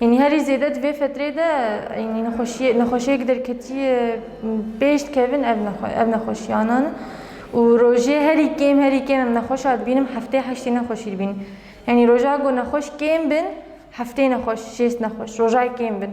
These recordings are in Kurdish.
Yanî herî zêde di vê fetrê de yanî nexweşiyê nexweşiyek derketiyê pêş dikevin ev ev nexweşiyanan in û rojê herî kêm herî kêm em nexweşa dibînim heftê heştê nexweşî dibînim. Yanî roja ku nexweş kêm bin heftê nexweş şêst nexweş roja kêm bin.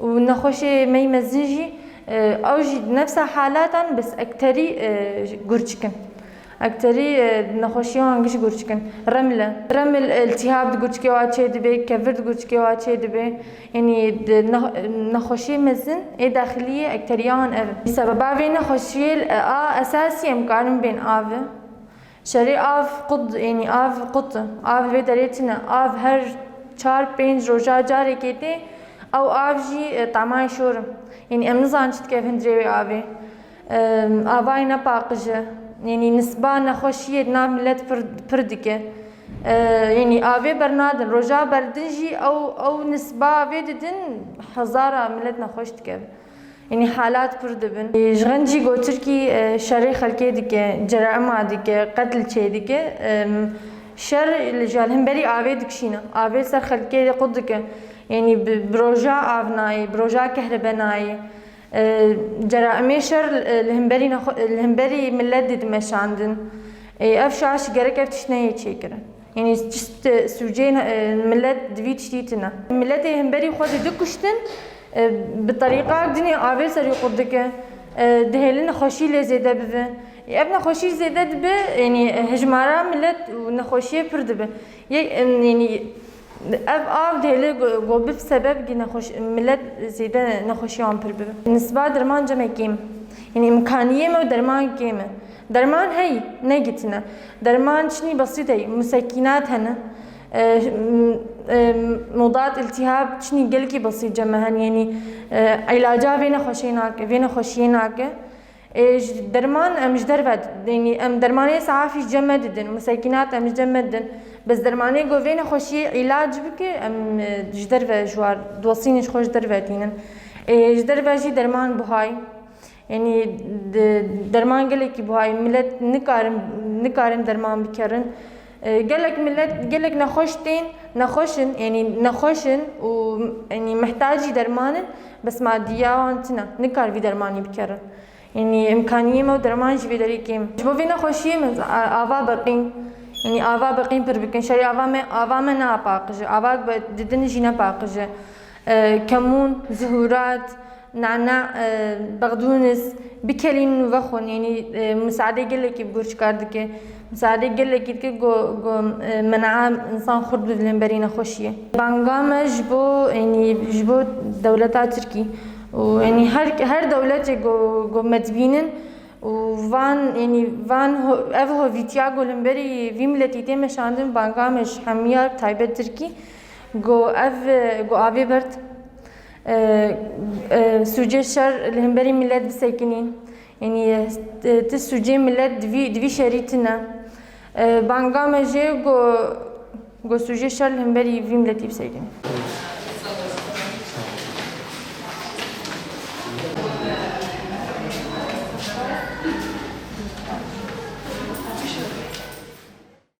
û nexweşê mey mezin jî ew jî di nefsa halatan bi ekterî gûr çikin. Ekterî di nexweşiya wan giş gûr çikin. Reml e. Reml îltîhab di gurçikê wa çêdibê, kevir di gurçikê wa çêdibê. Yanî di nexweşê mezin ê daxiliyê ekteriya wan ev e. Sebeba vê nexweşiyê a esasî em karin bên avi. Şerê av qut ênî av qut av vê derê tune av her çar pênc roja carekê tê ew av jî temayê şor im ênî em nizanin çi dike hundirê wê avê avayê ne paqij e ênî nisba nexweşiyê di nav milet pir pir dike ênî avê bernadin roja berdin jî ew ew nisba avê didin hezara milet nexweş dike. Yanî halat pir dibin. Ji xencî ku Tirkî şerê xelkê dike, cerema dike, qetil çêdike, şer li ji hemberî avê dikişîne. Avê ser xelkê de qut dike. Yanî bi roja av nayê, bi roja kehrebe nayê. Ceraimê şer li hemberî li hemberî milet de dimeşandin. Ev şaş gerek ev tişt neyê çêkirin. Yanî çişt sûceyên milet divî tiştî tune. Miletê himberî xwe dê dikuştin, bi terîqa cinê avê serî qurt dike, dihêlin nexweşî lê zêde bibe. Ev nexweşî zêde dibe, yanî hijmara milet û nexweşiyê pir dibe. Yek yanî ev av dihêle ku bib sebeb kî nexweş milet zêde nexweşiya wan pir bibe. Nisba derman cem e kêm e. Yanî îmkaniyê me û derman kêm e. Derman heye, ne gitine. Derman çinî besît ey, musekînat hene. Mudat îltîhab çinî gelkî besît cem hene yenî îlaca vê nexweşê nake, vê nexweşiyê nake. Ê ji derman em ji derve yenî em dermanê safî cem me didin, musekînat em ji cem me didin. Bes dermanê ku vê nexweşiyê îlac bike em ji derve ji war dosînê ji xwe ji derve tînin. Ê ji derve jî derman buhay. Yanî derman gelekî buha ye milet nikarin nikarin derman bikerin. Gelek milet gelek nexweş tên nexweş in yanî nexweş in û yanî mihtacî derman in bes madiya wan tune nikar vî dermanî bikerin. Yanî îmkaniyê me û derman jî vê derê kêm e. Ji bo vê nexweşiyê min ava biqîn yanî ava biqîn pir bikin şerî ava me ava me neapaqije ava di din jî nepaqije. Kemûn, Zuhurat, Nana, Bexdûnis, bikelînin û vexwin yanî misadê gelekî bi gur çikar dike. Misadê gelekî dike ku ku menae însan xurt bi dilên berî nexweşî ye. Banga me ji bo yanî ji bo dewleta Tirkî û yanî her her dewletê ku ku me dibînin û van yanî van ev hovîtiya ku li hemberî vî miletî tê meşandin banga me ji hemiya bi taybet Tirkî, Go ev go avê bird sûcê şer li himberî milet bisekinî. Yanî ti sûcê milet divî divî şerî tune. Banga me jê go go sûcê şer li himberî vî miletî bisekinî.